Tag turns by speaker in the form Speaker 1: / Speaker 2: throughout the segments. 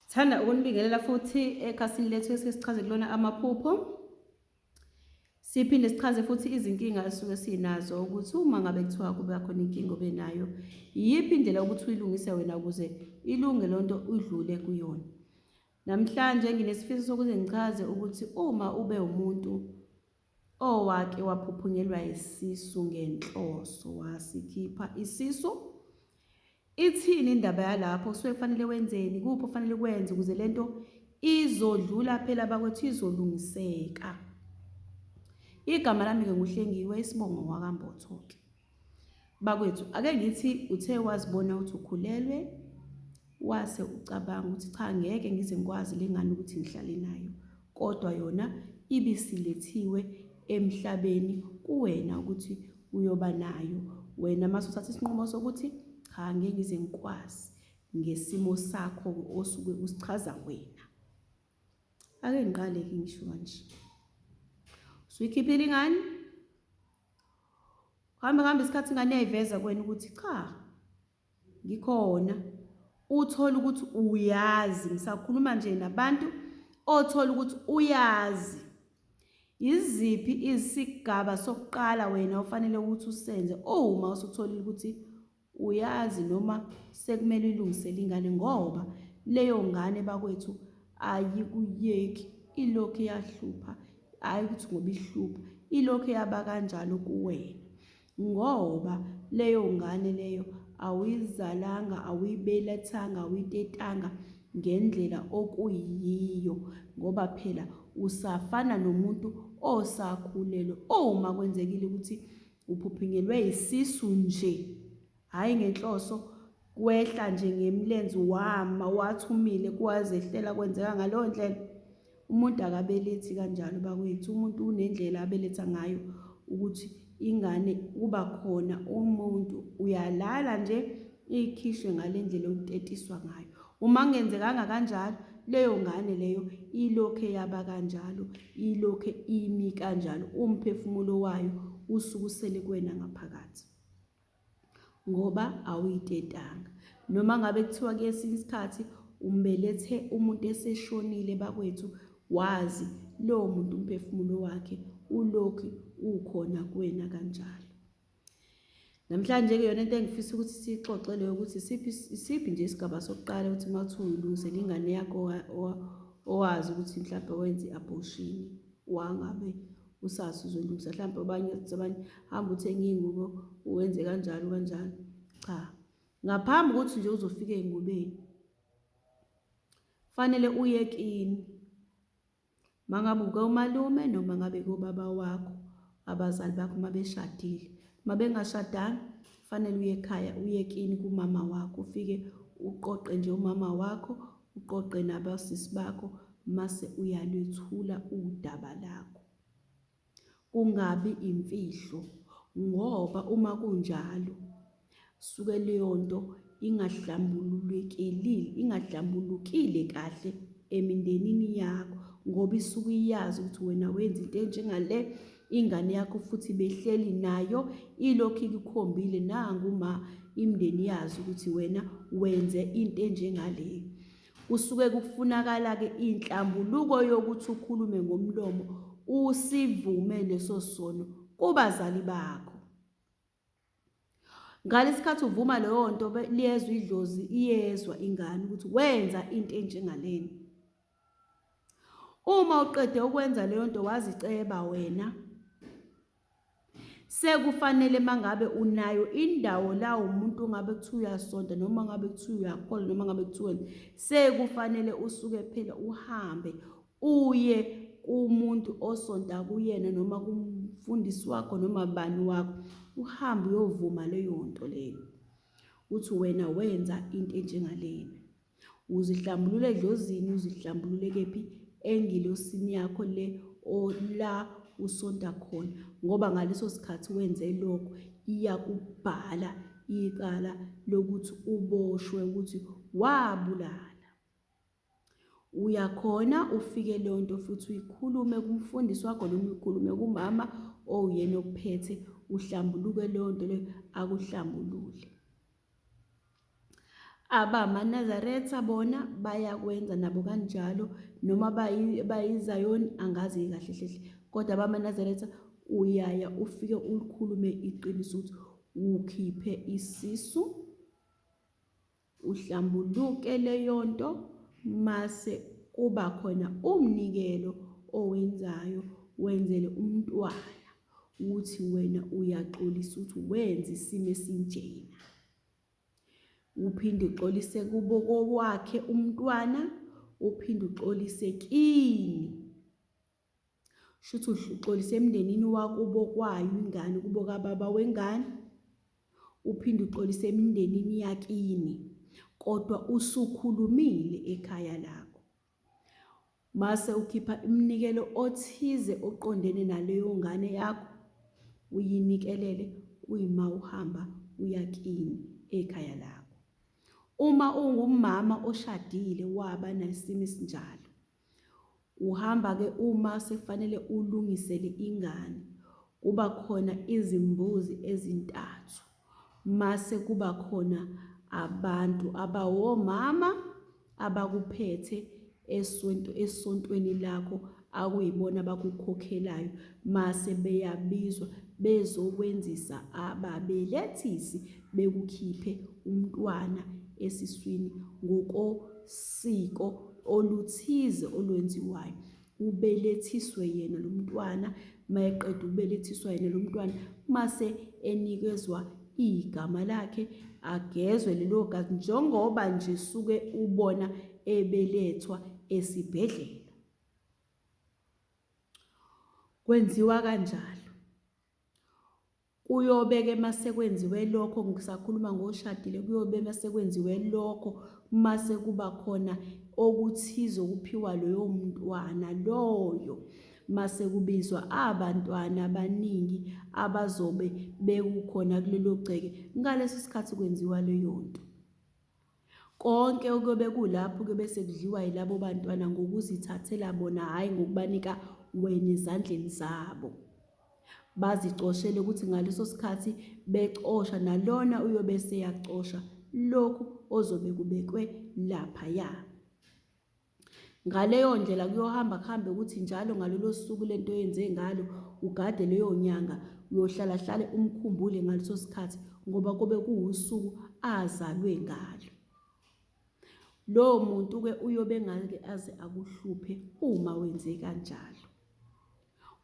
Speaker 1: Sithanda ukunibingelela futhi ekhasini lethu esike sichaze kulona amaphupho. Siphinde sichaze futhi izinkinga esuke sinazo ukuthi uma ngabe kuthiwa kube khona inkinga obe nayo, iyiphi indlela ukuthi uyilungise wena ukuze ilunge lonto udlule kuyona. Namhlanje nginesifiso sokuze ngichaze ukuthi uma ube umuntu Owake waphuphunyelwa yisisu ngenhloso wasikhipha isisu. Ithini indaba yalapho? Kusuke kufanele wenzeni? Kuphi okufanele ukwenze ukuze le nto izodlula phela bakwethu izolungiseka. Igama lami-ke nguHlengiwe isibongo wakambotho-ke. Bakwethu ake ngithi uthe wazibona ukuthi ukhulelwe wase ucabanga ukuthi cha ngeke ngize ngikwazi le ngane ukuthi ngihlale nayo kodwa yona ibisilethiwe emhlabeni kuwena ukuthi uyoba nayo wena mase uthatha isinqumo sokuthi cha ngeke ngize ngikwazi ngesimo sakho osuke usichaza wena ake ngiqale ke ngisho kanje suyikhiphile ingane Kuhambe kuhambe isikhathi ingane yayiveza kwena ukuthi cha ngikhona. Uthole ukuthi uyazi, ngisakhuluma nje nabantu othola ukuthi uyazi yiziphi isigaba sokuqala wena ofanele ukuthi usenze uma usutholile ukuthi Uyazi noma sekumele uyilungisele ingane ngoba leyo ngane bakwethu ayikuyeki ilokhu iyahlupha hhayi ukuthi ngoba ihlupha ilokhu eyaba kanjalo kuwena ngoba leyo ngane leyo awuyizalanga awuyibelethanga awuyitetanga ngendlela okuyiyo ngoba phela usafana nomuntu osakhulelwe uma kwenzekile ukuthi Uphuphunyelwe yisisu nje, hhayi ngenhloso, kwehla nje ngemlenzi wama wathumile kwazehlela kwenzeka ngaleyo ndlela. Umuntu akabelethi kanjalo bakwethu, umuntu unendlela abeletha ngayo ukuthi ingane kuba khona umuntu uyalala nje ikhishwe ngale ndlela okutetiswa ngayo. Uma kungenzekanga kanjalo, leyo ngane leyo ilokhe yaba kanjalo, ilokhe imi kanjalo, umphefumulo wayo usuke usele kuwena ngaphakathi ngoba awuyitetanga. Noma ngabe kuthiwa kwesinye isikhathi umbelethe umuntu eseshonile bakwethu, wazi lowo muntu umphefumulo wakhe ulokhu ukhona kuwena kanjalo. Namhlanje-ke yona into engifisa ukuthi siyixoxe leyo ukuthi isiphi nje isigaba sokuqala ukuthi uma kuthiwa uyilungisela ingane yakho owazi ukuthi mhlawumbe wenze i-abortion wangabe usazi uzolungisa mhlawumbe abanye abanye hamba uthenge iy'ngubo wenze kanjalo kanjalo cha ngaphambi kokuthi nje uzofika ey'ngubeni fanele uye kini Mangabe ukomalume noma ngabe kobaba wakho abazali bakho uma beshadile uma bengashadanga fanele uye ekhaya uye kini kumama wakho ufike uqoqe nje umama wakho uqoqe nabasisi bakho mase uyalwethula udaba lakho kungabi imfihlo ngoba uma kunjalo suke leyo nto ingahlambululekile ingahlambulukile kahle emindenini yakho ngoba isuke iyazi ukuthi wena wenza into enjengale ingane yakho futhi behleli nayo ilokhu ikukhombile nanguma imndeni yazi ukuthi wena wenze into enjengaleyo Kusuke kufunakala-ke inhlambuluko yokuthi ukhulume ngomlomo usivume leso sono kubazali bakho. Ngalesikhathi uvuma leyo nto liyezwa idlozi iyezwa ingane ukuthi wenza into enjengalena. Uma uqede ukwenza leyo nto waziceba wena Sekufanele mangabe unayo indawo la umuntu ongabe kuthiwa uyasonta noma ngabe kuthiwa uyakholwa noma ngabe kuthiwa sekufanele usuke phela uhambe uye kumuntu osonta kuyena noma kumfundisi wakho noma bani wakho uhambe uyovuma leyo nto leyo uthi wena wenza into enjengalena. Uzihlambulule edlozini, uzihlambulule kephi? Engilosini yakho le la usonta khona, ngoba ngaleso sikhathi wenze lokho iyakubhala icala lokuthi uboshwe ukuthi wabulala. Uyakhona ufike leyo nto futhi uyikhulume kumfundisi wakho noma uyikhulume kumama owuyena ophethe uhlambuluke leyo nto leyo akuhlambulule. AbamaNazaretha bona bayakwenza nabo kanjalo, noma bayiZayoni angazi-ke kahle hle hle. Kodwa abamaNazaretha uyaya ufike ulikhulume iqiniso ukuthi ukhiphe isisu, uhlambuluke leyo nto mase kuba khona umnikelo owenzayo wenzele umntwana. ukuthi wena uyaxolisa ukuthi wenza isimo esinjena uphinde uxolise kubo kowakhe umntwana uphinde uxolise kini shuthi uxolise emndenini wakubo kwayo ingane kubo kababa wengane uphinde uxolise emindenini yakini kodwa usukhulumile ekhaya lakho Mase ukhipha imnikelo othize oqondene naleyo ngane yakho uyinikelele kuyima uhamba uya kini ekhaya lakho. Uma ungumama oshadile waba nesimo esinjalo uhamba ke uma sekufanele ulungisele ingane kuba khona izimbuzi ezintathu mase kuba khona abantu abawomama abakuphethe esonto esontweni lakho akuyibona abakukhokhelayo mase beyabizwa bezokwenzisa ababelethisi bekukhiphe umntwana esiswini ngokosiko oluthize olwenziwayo ubelethiswe yena lo mntwana uma eqeda ubelethiswa yena lo mntwana mase enikezwa igama lakhe agezwe lelo gazi njengoba nje suke ubona ebelethwa esibhedlela kwenziwa kanjalo Kuyobe-ke uma sekwenziwe lokho, ngisakhuluma ngoshadile, kuyobe uma sekwenziwe lokho, uma sekuba khona okuthize okuphiwa loyo mntwana loyo, uma sekubizwa abantwana abaningi abazobe bekukhona kulelo gceke, ngaleso sikhathi kwenziwa leyo nto. Konke okuyobe kulapho kuyobe sekudliwa yilabo bantwana ngokuzithathela bona, hhayi ngokubanika wena ezandleni zabo. Bazicoshele ukuthi ngaleso sikhathi becosha nalona uyobe eseyacosha lokhu ozobe kubekwe laphaya. Ngaleyo ndlela kuyohamba kuhambe ukuthi njalo ngalolo suku lento yenze ngalo ugade leyo nyanga uyohlala hlale umkhumbule ngaleso sikhathi ngoba kobe kuwusuku azalwe ngalo. Lowo muntu ke uyobe ngake aze akuhluphe uma wenze kanjalo.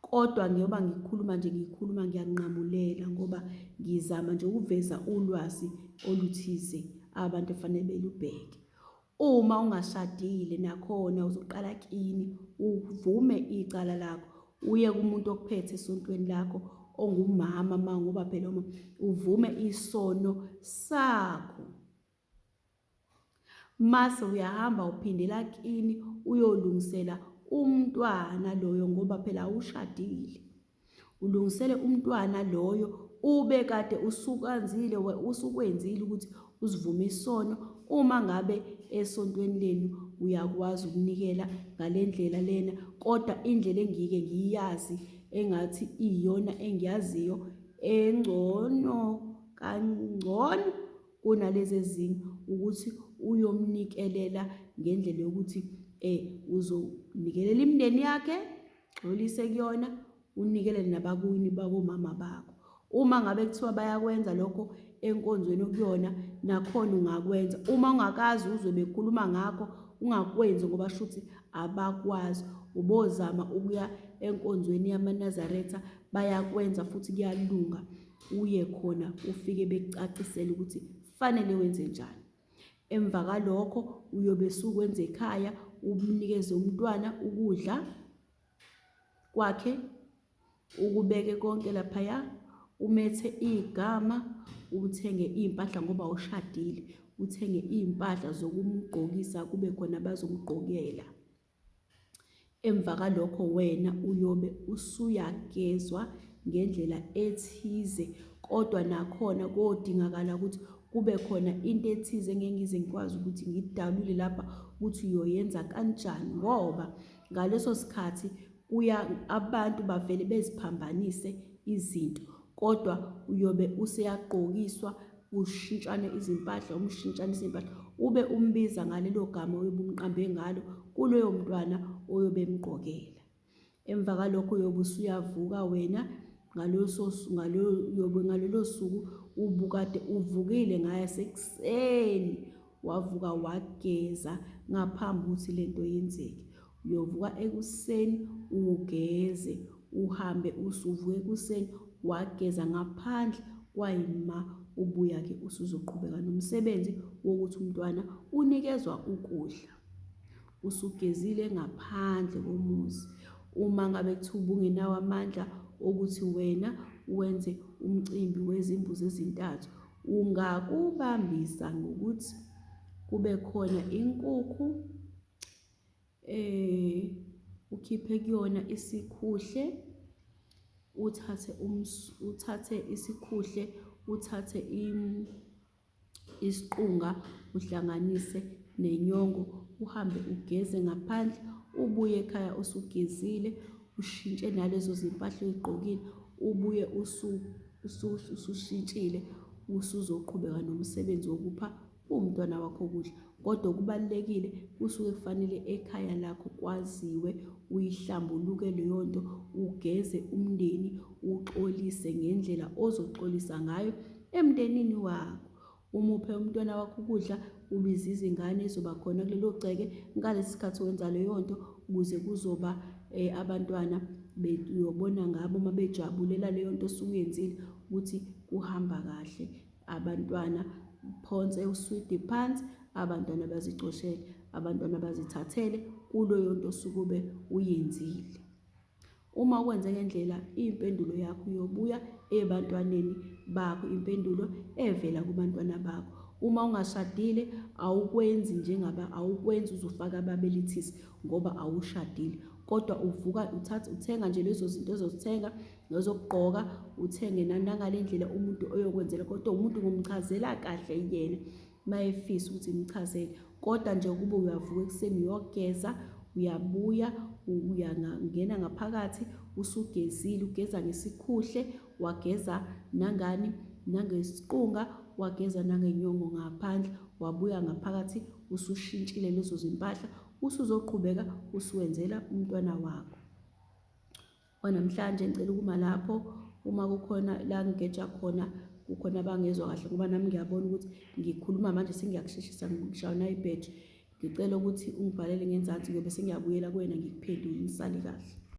Speaker 1: Kodwa ngiyoba ngikhuluma nje ngikhuluma ngiyanqamulela ngoba ngizama nje ukuveza ulwazi oluthize abantu efanele belubheke. Uma ungashadile nakhona uzoqala kini uvume icala lakho uye kumuntu okuphethe esontweni lakho ongumama ma ngoba phela uma uvume isono sakho mase uyahamba uphindela kini uyolungisela umntwana loyo ngoba phela awushadile Ulungisele umntwana loyo ube kade usukanzile usukwenzile ukuthi uzivume isono uma ngabe esontweni lenu uyakwazi ukunikela ngale ndlela lena kodwa indlela engike ngiyazi engathi iyona engiyaziyo engcono kangcono kunalezi ezinye ukuthi uyomnikelela ngendlela yokuthi um uzonikelela imindeni yakhe gxolise kuyona unikele nabakuwini bakomama bakho uma ngabe kuthiwa bayakwenza lokho enkonzweni okuyona nakhona ungakwenza uma ungakazi uzwe bekhuluma ngakho ungakwenzi ngoba shuthi abakwazi ubozama ukuya enkonzweni yamanazaretha bayakwenza futhi kuyalunga uye khona ufike bekucacisele ukuthi fanele wenze njani Emva kwalokho uyobe sukwenza ekhaya umnikeze umntwana ukudla kwakhe ukubeke konke laphaya umethe igama uthenge iy'mpahla ngoba ushadile uthenge iy'mpahla zokumgqokisa kube khona bazomgqokela Emva kalokho wena uyobe usuyagezwa ngendlela ethize kodwa nakhona kodingakala ukuthi kube khona into ethize engeke ngize ngikwazi ukuthi ngidalule lapha ukuthi uyoyenza kanjani ngoba ngaleso sikhathi kuya abantu bavele beziphambanise izinto kodwa uyobe useyagqokiswa kushintshane izimpahla, uma ushintshanisa iy'mpahla ube umbiza ngalelo gama oyobe umqambe ngalo kuloyo mntwana oyobe emgqokela. Emva kalokho uyobe usuyavuka wena ngalolo suku ubukade uvukile ngasekuseni wavuka wageza ngaphambi ukuthi lento yenzeke uyovuka ekuseni ugeze uhambe usuvuka ekuseni wageza ngaphandle kwayima ubuya-ke usuzoqhubeka nomsebenzi wokuthi umntwana unikezwa ukudla usugezile ngaphandle komuzi uma ngabe kuthiwa ubungenawo amandla okuthi wena wenze umcimbi wezimbuzi ezintathu ungakubambisa ngokuthi kube khona inkukhu eh ukhiphe kuyona isikhuhle uthathe uthathe isikhuhle uthathe isiqunga uhlanganise nenyongo uhambe ugeze ngaphandle ubuye ekhaya usugezile ushintshe nalezo zimpahla oyigqokile ubuye usushintshile usuzoqhubeka nomsebenzi wokupha umntwana wakho ukudla kodwa okubalulekile kusuke kufanele ekhaya lakho kwaziwe uyihlambuluke leyo nto ugeze umndeni uxolise ngendlela ozoxolisa ngayo emndenini wakho umuphe umntwana wakho ukudla ubize izingane ezoba khona kulelo gceke ngalesi sikhathi wenza leyo nto ukuze kuzoba um abantwana uyobona ngabo uma bejabulela leyo nto osuke uyenzile ukuthi kuhamba kahle abantwana phonse uswidi phansi abantwana bazicoshele abantwana bazithathele kuloyo nto osuke ube uyenzile Uma ukwenze ngendlela, impendulo yakho iyobuya ebantwaneni bakho, impendulo evela kubantwana bakho. Uma ungashadile, awukwenzi njengaba awukwenzi uzofaka ababelethisi ngoba awushadile. Kodwa uvuka uthatha uthenga nje lezo zinto ozozithenga nezokugqoka, uthenge nangale ndlela umuntu oyokwenzela kodwa umuntu ngomchazela kahle yena. mayefisa ukuthi imchazele kodwa nje ukube uyavuka ekuseni uyogeza uyabuya uyangena ngaphakathi usugezile ugeza ngesikhuhle wageza nangani nangesiqunga wageza nangenyongo ngaphandle wabuya ngaphakathi usushintshile lezo zimpahla usuzoqhubeka usuwenzela umntwana wakho Kwanamhlanje ngicela ukuma lapho uma kukhona la ngigeja khona kukhona abangezwa kahle ngoba nami ngiyabona ukuthi ngikhuluma manje sengiyakusheshisa ngishawa nayibhethri ngicela ukuthi ungibhalele ngenzansi ngiyobe sengiyabuyela kuwena ngikuphendule ngisale kahle